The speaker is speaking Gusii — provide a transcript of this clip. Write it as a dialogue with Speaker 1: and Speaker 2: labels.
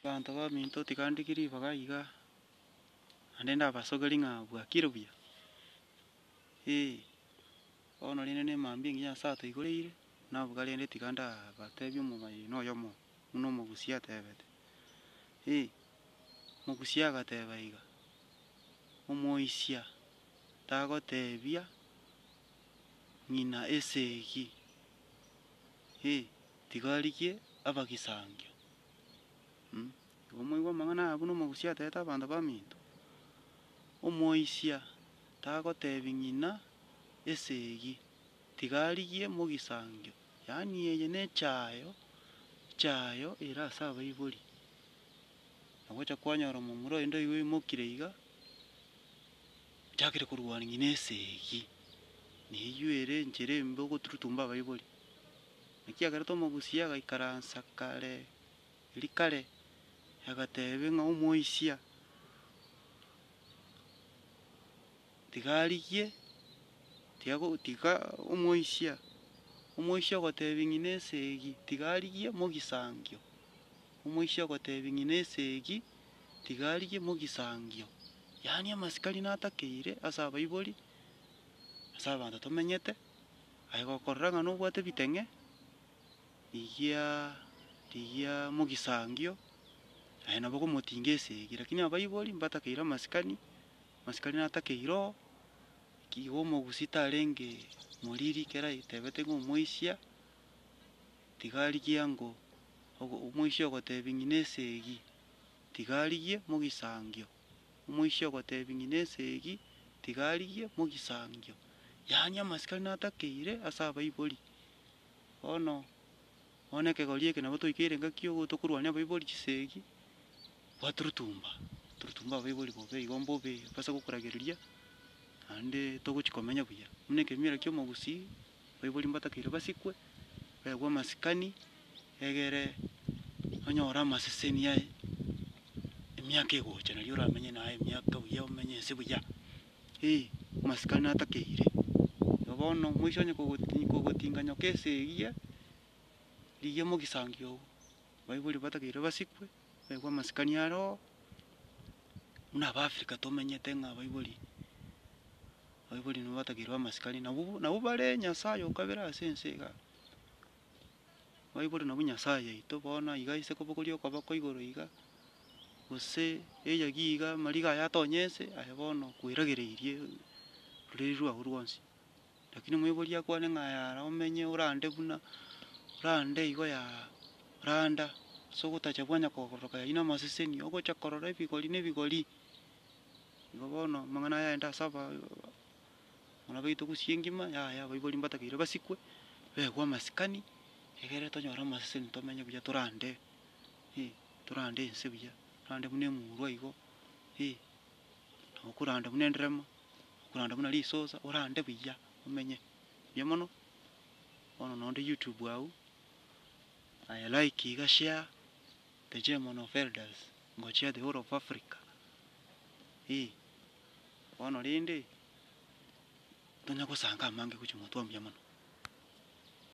Speaker 1: Abanto baminto tigandigiri ribaga iga, naende ndabasogeri ng'a bwakire buya, ee, bono rende nemambia engiya Nyasae atoigoreire, naboka rende tiga ndabatebie omobaibani oyomo buna omogusia atebete, ee, omogusia agateba iga, Omoisia tagotebia ng'ina esegi, ee, tiga arigie abagisangio. Igo moigwe amang'ana aya buna omogusia aterete abanto baminto, omoisia tagotebi ng'ina esegi, tiga arigie mogisangio, yaani eye nechayo chayo ere ase abaibori. Nagocha kwanyora omomura oyio ndoigwe oimokire iga, ochakire korwania ng'ina esegi, neyio ere enchera embe ogoturutumba abaibori. Ekiagera tomogusia agaikaransa kare eri kare, agateebia ng'a omoisia tiga arigie, tiga go, tiga omoisia, omoisia ogoteebia ng'ina esegi tiga arigie mogisangio, omoisia ogoteebia ng'ina esegi tiga arigie mogisangio. Yaani amasikani natakeire ase abaibori, ase abanto tomenyete. Aye gokorora ng'a nobwate ebiteng'e, rigia rigia mogisangio, naye nabo okomotinga esegi. Lakini abaibori mbatakeire amasikani, amasikani natakeire oo, eki igo omogusii tarenge moriri ekero aetebete ng'a omoisia, tiga arigie ango ogo omoisia ogotebia ng'ina esegi, tiga arigie mogisangio. Omoisia ogotebia ng'ina esegi, tiga arigie mogisangio. Yaani amasikani natakeire ase abaibori. Bono, bono ekegori eke nabo toikeire ngaki ogo tokorwania abaibori chisegi, bwaturutumba, turutumba abaibori bobe igo mbobe base gokoragereria, naende togochi komenya buya. Buna ekemira kia omogusii. baibori mbatakeire basikwe, baegwe amasikani, egere onye ore amaseseni aye, emiaka egocha nari oramenye naye emiaka buya omenye ense buya, eh amasikani natakeire. Igo bono moise onye kogoti- kogotinga nyoka ase eyio, eyio mogisangio baibori mbatakeire basikwe. Naikwa amasikani aroo, buna aba Africa tomenyete ng'a abaibori, abaibori nigo batakeirwe amasikani, nabo bo- nabo bare nyasaye okabere ase ense igaa. Abaibori nabwo nyasaye yaito bono iga ase kobogoria okoba kwa igoro iga, gose eyagi iga amariga aya atonye ense, aye bono kweragereirie roreri rwago rwonsi. Lakini omoibori akwane ng'a yara omenye orande buna orande igo ya randa, ase ogotacha bwanya kogororoka yanywe namaseseni, ogocha korora ebigori ne ebigori. Igo bono amang'ana aya aende ase aba- muna baito gusii engima yaya abaibori mbatakeire basikwe, begwe amasikani, egere tonyore amaseseni tomenye buya torande, eh torande ense buya, torande buna emurwa igo, eh. okoranda buna enderemo, okoranda buna risosa, orande buya omenye buya mono. Bono noo onde youtube agwo, aye like iga share, the German of elders, ngochia the whole of Africa, eeh. Bono rende, tonya gosanga amange gochia gotwa mbuya mono.